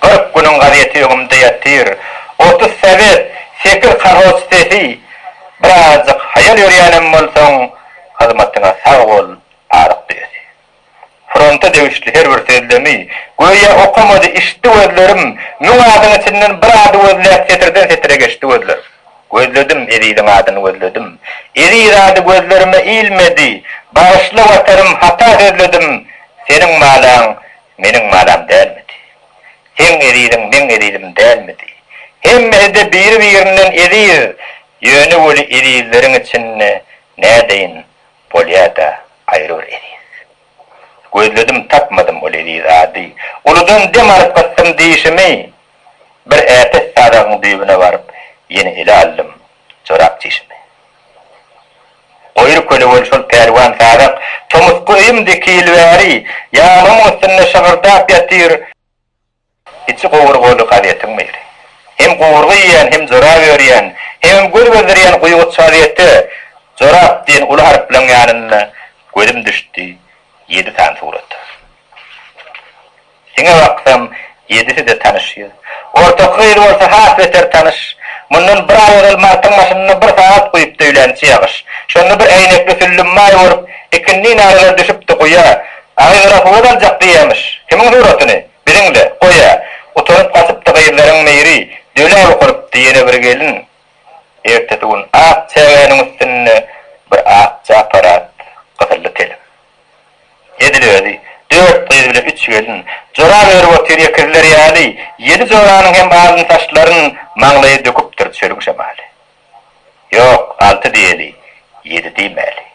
Kyrk günüň gazeti öňümde ýatyr. Otuz sowet, sekiz kolhoz sesi. Birazajyk haýal ýörýänem bolsaň, hyzmatyňa sag bol, Sadyk düýesi. Fronta degişli her bir sözlemi, göýä okamady, içdi gözlerim. Müň adyň içinden bir ady gözläp setirden setire geçdi gözlerim. Gözledim, eziziň adyny gözledim. Eziz ady gözlerime ilmedi. Bagyşla Watanym, hata sözledim. Seniň malaň Meniň manam dälmidi? Seň eziziň meň ezizim dälmidi? Hemmesi-de biri-birinden eziz, ýöne weli ezizleriň içinde nädeýin, bolýa-da aýry bir eziz. Gözledim, tapmadym ol eziz ady. Uludan dem alyp gysdym dişimi, bir äpet sadagyň düýbüne baryp, ýene ele aldym jorap çişimi. Goýry köle bol şol pälwan sazak. Tomusky öýümde iki ýyl bäri. Ýanymyň üstünde şygyrdap ýatyr. Içi gowurgaly gazetiň biri. Hem gowurga iýýän, hem jorap örýän, hemem göz gezdirýän guýguç gazete Jorap diýen uly harplaryň ýanynda gözüm düşdi, ýedi sany surat. Siňe baksam, ýedisi-de tanyş ýüz. Ortaky gyz bolsa has beter tanyş. Mundan bir aý ozal martyň başynda bir sagat guýupdy öýlänçi ýagyş. Şonda bir äýnekli süllüm maý bolup, ikindi narylar düşüpdi guýa. Agyz-gyra suwa daljak diýýämiş. Kimiň suratyny? Biziň-le. Goý-a. Utanyp gaçypdy gyzlaryň Meýri. Döläp okalypdy ýene bir gelin. Ertesi gün ak çägäniň üstünde bir ak çaparat, gyzylly telim. Edil özi, dört gyz bilen üç gelin, jora berip otyr ekizler ýaly, ýedi joranyň hem alyn saçlaryn maňlaýa döküpdir çölüň şemaly. Ýok, alty diýeli, ýedi diýmäli.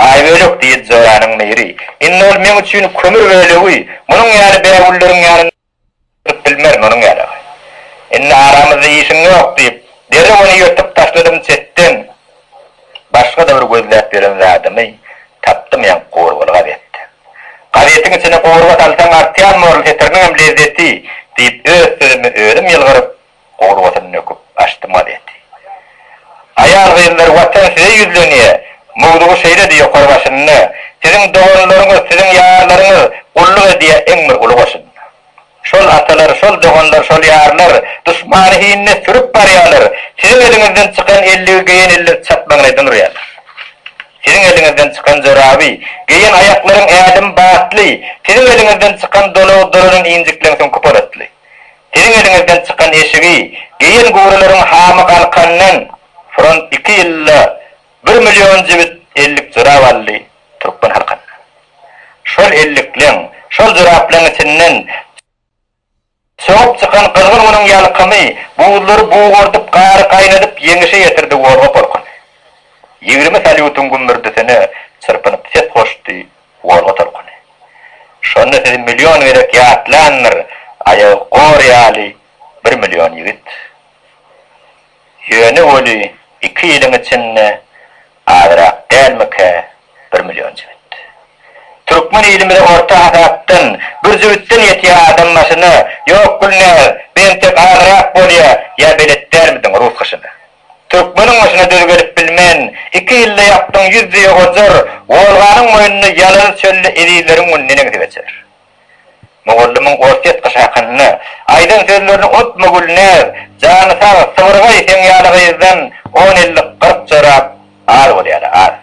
Aýbölek diýdi joranyň miri, indi ol meň üçin kömür bölegi, munuň ýaly bägülleriň ýanynda. Tutup bilmerin onuň ýaly. Indi aramyzda işiň ýok, diýip, derrew ony ýyrtyp taşladym çetden. Başga-da bir gözläp ýören zadymy tapdym, ýaňky gowurgaly gazetdi. Gazetiň içine gowurga salsaň artýan moral setiriniňem lezzeti, diýip, öz sözümi özüm ýylgyryp, Gorbasyny nöküp, açdy mazeti. Aýal-gyzlar Watan size ýüzlenýär! Mowzugy şeýledi, ýokary başynda, Siziň doganlaryňyz, siziň ýarlaryňyz gulluk edýär iň bir uly goşunda. Şol atalar, şol doganlar, şol ýarlar duşmany hinine sürüp barýarlar, siziň eliňizden çykan elligi geýen eller çatmagyny eden urýarlar. Siziň eliňizden çykan joraby geýen aýaklaryň ädimi batly, siziň eliňizden çykan dolagy dolanan injikleň süňki polatly. Siziň eliňizden çykan eşigi geýen gurileriň hamy galkandan front iki ýylda bir million jübüt ellik jorap aldy türkmen halkynda şol ellikleň şol joraplaň içinden çogup çykan gyzgyn günüň ýalkymy buzlary bugardyp gary gaýnadyp ýeňişe ýetirdi wolga polkuny ýigrimi salýutyň gümmürdisine çyrpynyp ses goşdy Gorgy tolkuny. Şonda sizi million gezek ýatlandyr, aýagy gor ýaly bir million ýigit. Ýöne weli iki ýylyň içinde azrak dälmikä bir million jübüt. Türkmen ilimize orta hasapdan bir jübütden ýetýä adam başyna, ýok Gülnäz, bentek azrak bolýa, ýa belet dälmidiň rus gyşyna. Türkmeniň başyna düz gelip bilmen, Iki ýylda ýakdyň ýüz düýe ojar, Wolganyň boýnunda ýalazy çölde Ezizleriň güni neneňsi geçer? Mugallymyň ors ýatgyşy hakynda Aýdan sözlerini unutma Gülnäz, Jany sag, sybyrgaý seň ýaly gyzdan On ellik, kyrk jorap az bolýar-a, az.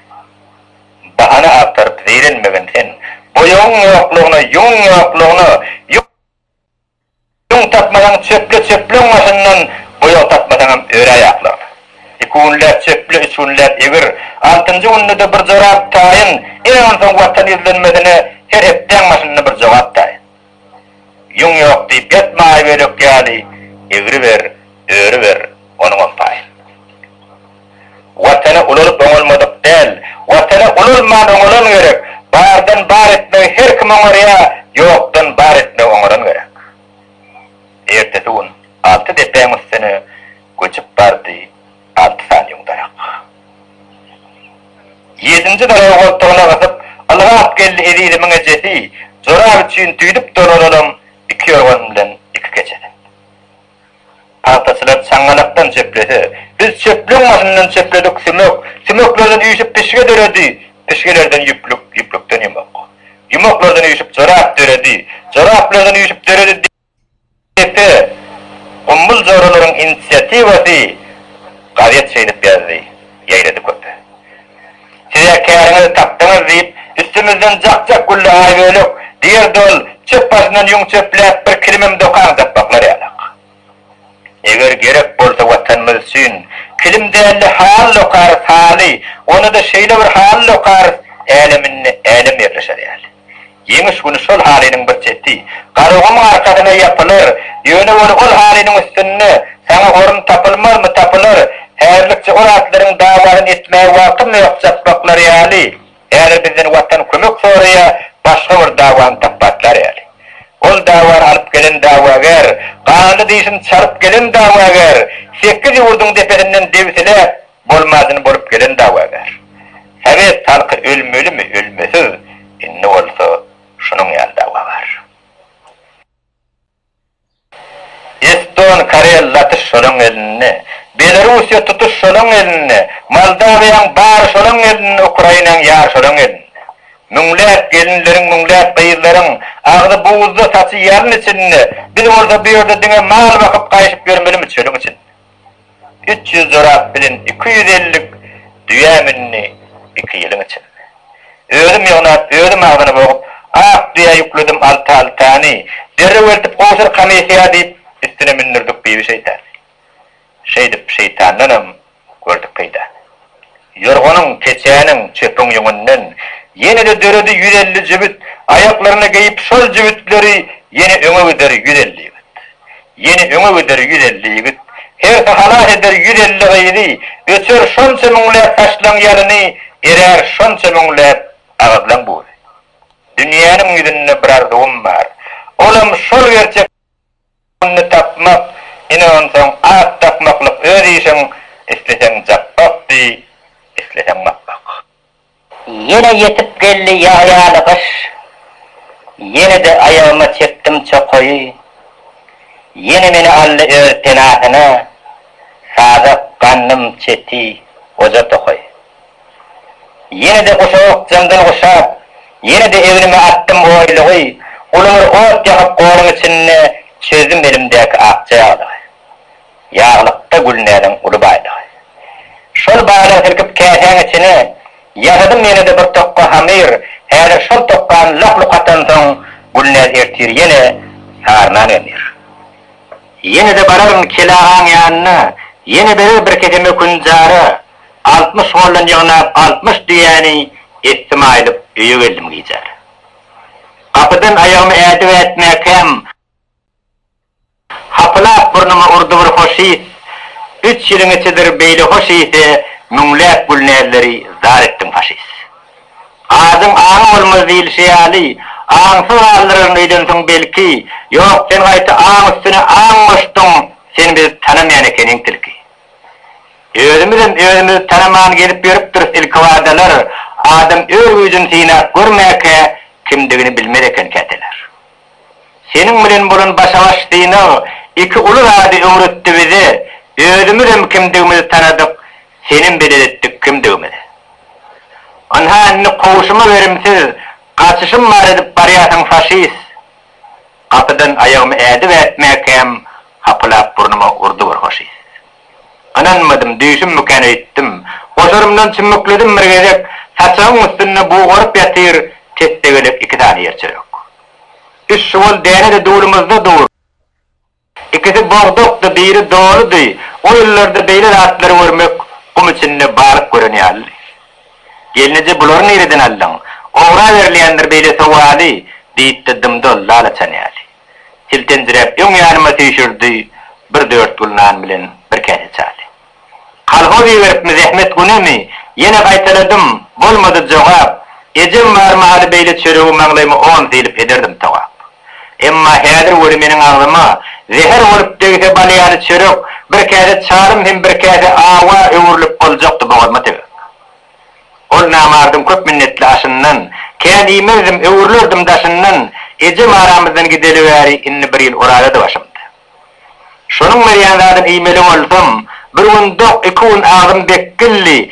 Bahana agtaryp zeýrenmegin sen, Boýagyň ýoklugyna, ýüňüň ýoklugyna, Ýüň tapmasaň, çöple, çöpleň başyndan boýag tapmasaňam, öre aýaklardan. Iki günläp çöple, üç günläp egir. Altynjy günde-de bir jorap taýyn. Ine, onsoň Watan ýüzlenmesine her hepdäň başynda bir jogap taýyn. Ýüň ýok diýip ýatma aýbölek ýaly, egriber, örüber, onuňam paýyn. Watana ulalyp oňalmadyk däl. Watana ulalman oňalan gerek. Bardan bar etmegi her kim oňarýa, ýokdan bar etmegi oňaran gerek. Ertesi gün alty depäň üstüne göçüp bardy, alty sany ýüň darak. Ýedinji daragy goltugyna gysyp, ylgap geldi Ezizimiň ejesi, jorap üçin düýdüp dolanalam iki ýorgan bilen iki keçeden. Pagtaçylar çaňňalakdan çeplese, biz çöplügiň başyndan çepledik, sümek, sümeklerden üýşüp pişge döredi, pişgelerden ýüplük, ýüplükden ýumak, ýumaklardan üýşüp jorap döredi, joraplardan üýşüp döredi depe, gumbul joralaryň inisiatiwasy gazet şeýdip ýazdy, ýaýrady köpe. Siz-ä käriňizi tapdyňyz, diýip, üstümizden jak-jak güldi Aýbölek. Diýerdi ol, çöp başyndan ýüň çöpläp, bir kilimem dokan dakmaklar ýalak. Eger gerek bolsa Watanymyz üçin, kilim däl-de haly dokarys, haly, onda-da şeýle bir haly dokarys, äleminde älem ýerleşer ýaly. Ýeňiş güni şol halynyň bir çeti Garagumuň arkasyna ýapylar. Ýöne weli ol halynyň üstünde saňa orun tapylmazmy, tapylar. Häzirlikçe ol atlaryň dawasyny etmäge wagtym ýok, çakmaklary ýaly. Häzir bizden Watan kömek soraýar, başga bir dawany tapbatlar ýaly. Ol dawany alyp gelen dawagär, ganly dişini çalyp gelen dawagär, sekiz ýurduň depesinden debsiläp, Bolmadyn bolup gelen dawagär. Sowet halky ölmelimi ölmesiz indi bolsa şunuň ýaly dawa bar. Eston karel latyş şolaň elinde. Belarusiýa tutuş şolaň elinde. Moldawiýaň bary şolaň elinde ukrainaň ýary şolaň elinde. Müňläp gelinleriň müňläp gyzlaryň agzy buzda saçy ýalyn içinde biz bolsa bu ýerde diňe mal bakyp gaýşyp ýörmelimi çölüň içinde. Üç ýüz jorap bilen iki ýüz ellik düýä mündi iki ýylyň içinde. Özüm ýygnap, özüm agzyny bogup, ak düýä ýükledim alty-altyny. Derrew eltip gowşur komissiýa diýip, üstüne mündürdik Bibi şeýtany. Şeýdip, şeýtandanam gördük peýdany. Ýorganyň, keçäniň, çöpüň ýüňünden ýene-de döredi ýüz elli jübüt, aýaklaryna geýip, şol jübütleri ýene öňe gider ýüz elli ýigit. Ýene öňe gider ýüz elli ýigit. Hersi halas eder ýüz elli gyzy, öçer şonça müňläp saçlaň ýalyny, erär şonça müňläp agyzlaň buzy. Dünýäniň ýüzünde bir arzuwym bar. Olam şol gerçek. Puluny tapmak, ine onsoň at dakmaklyk öz işiň, isleseň japbak diý, isleseň makbak. Ýene ýetip geldi ýag ýaly gyş, ýene-de aýagyma çekdim çokaýy, ýene meni aldy öz penasyna, sazak, gandym, çeti, goja tokaý. Ýene-de guşak jymdan guşap, ýene-de egnime atdym oýlugy, ulumyr ot ýakyp goruň içinde çözdüm elimdäki akja ýaglygy. Ýaglykda Gülnäziň uly baýlygy. Şol baýlygy silkip käsäň içine, ýasadym ýene-de bir tokga hamyr, häzir şol tokgany lak-luk atansoň, Gülnäz ertir ýene sary nan emýär. Ýene-de bararyn Kele agaň ýanyna, ýene berer bir kese mökün jara. Altmyş goldan ýygnap altmyş düýäni etdim aýlyp öýe geldim gijär. Gapydan aýagymy ädip ätmäkäm, hapylap burnuma urdy bir hoş ys, üç ýylyň içidir beýle hoş ysy müňläp gülnäzleri zar etdiň faşist. Adyň aň bolmaz diýilşi ýaly, aňsyz galdyraryn öýden soň belki, ýok sen gaýta aň üstüne aň goşduň, sen bizi tanamaýan ekeniň tilki. Özümizem özümizi tanaman gezip ýörüpdiris ilkibadalar adam öz güýjüni synap görmäkä kimdigini bilmez eken käteler. Seniň bilen bolan başa-baş synag iki uly zady öwretdi bize, özümizem kimdigimizi tanadyk, senem belet etdik kimdigimizi. Ynha indi kowşuma berimsiz gaçyşym bar edip barýarsyň faşist. Gapydan aýagymy ädip ätmäkäm hapalap burnuma urdy bir hoşyýs. Ynanmadym, düýşümmikän öýtdüm. Goşarymdan çümmükledim bir gezek, saçagyň üstünde bugaryp ýatyr tessegelek iki sany ýer çörek. Üç şuwal däne-de dulumyzda dur. Ikisi bogdakdy, biri doludy. O ýyllarda beýle zatlary görmek gum içinde balyk gören ýalydy. Gelneje bulary nireden aldyň? Ogra berilýändir beýle sowaly, diýipdi dym-dol lalaçan ýaly. Siltenjiräp öň ýanyma süýşürdi bir dört gül nan bilen bir käse çaýy. Kolhoz iberipmi zähmet günemi? Ýene gaýtaladym, bolmady jogap. Ejem bar mahaly beýle çöregi maňlaýyma on sylyp ederdim togap. Emma häzir weli meniň agzyma zäher bolup degse bal ýaly çörek, bir käse çalym hem bir käse awa öwrülip boljakdy bogazyma tegip. Ol namardyň köp minnetli aşyndan, kän iýmezdim, öwrülerdim daşyndan. Ejem aramyzdan gideli bäri indi bir ýyl oralady başymda. Şonuň berýän zadyny iýmeli boldum. Bir gün dok, iki gün agzym dek gilli.